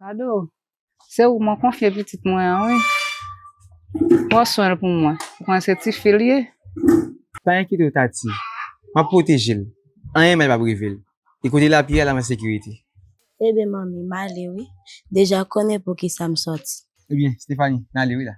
Kado, se ou mwen konfye pitit mwen an wi. Pran swen l pou mwen. Ou konnen se tifi l ye. Pa enkyete w Tati. M ap pwoteje l. Anyen mal pap rive l. E kote l ap ye a l ap an sekirite. Ebyen manmi, m ale wi. Deja konnen poukisa m sòti. Ebyen Stéphanie, n ale wi la.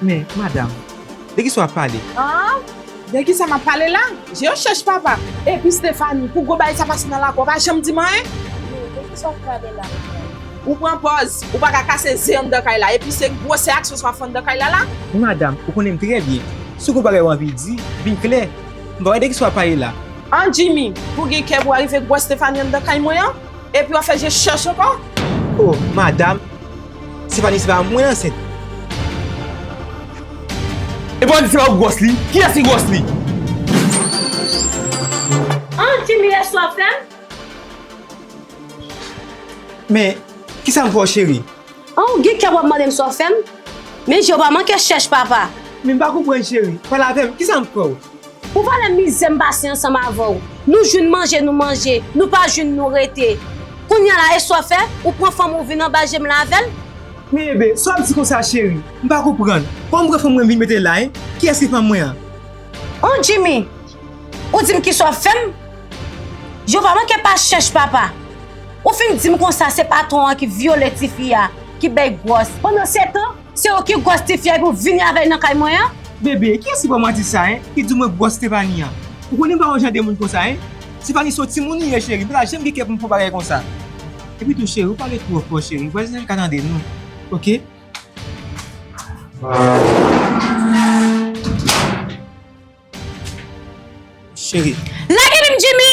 Men, madam, de ki sa w ap pale? An? De ki sa m ap pale la? Je yo chèch, papa! Epi Stefani, pou gwo bagay sa pase nan lakwa, ou pa janm di m anyen? Lou, de ki sa w ap pale la, manman? Ou pran pòz! Ou pa ka kase ze anndan kay la! Epi se gwosè ak sòs m ap fè anndan kay la la? Men, madam, ou konnen m trè byen. Si gwo bagay ou anvi di, vin klè. M pa wè de ki sa w ap pale la. An, Jimmy, pou w gen kè pou w arive gwòs Stefani anndan kay mwen an? Epi w ap fè je chèch ankò? O, madam! Se pa li se pa mwen ansent. E pa w di se pa ou k gwòs li? Kiyès ki gwòs li? An Jimmy rès wap fè m? Men, kisa m fè w cheri? An ou gen kè wap mande m sa w fè m? Men je w pa manke chèch papa. Men m pa konprann cheri. Pale avè m, kisa m fè w? Ou pale mizè m pase ansanm avè w Nou jwenn manje nou manje Nou pa jwenn nou rete Kounya la e sa w fè Ou pran fanm ou vin anba je m la avè l? Men Ebe, sa w ap di konsa cheri? M pa konprann Fò m pran fanm mwen vin mete la hein Kiyès ki fanm mwen an? An Djimi, ou di m kisa w ap fè m? Jovah manke pa chèch papa Ou fin di m konsa se patwon an ki vyole tifi a Ki bay gwòs Pandansetan, Se ou ki gwòs ti fi a epi ou vini avè l nan kay mwen an? Bebe, kiyès ki pran manti sa hein? Ki di mwen gwòs Stéphanie an? Ou konnen m pa yon jan de moun konsa hein? Stéphanie se yon timoun li ye cheri, m pa ta janm gen kè pou m fè yon bagay konsa. Epi tou cheri, ou pale twò fò cheri, vwazen an ka tande nou ok. Cheri. Lage li m Djimi!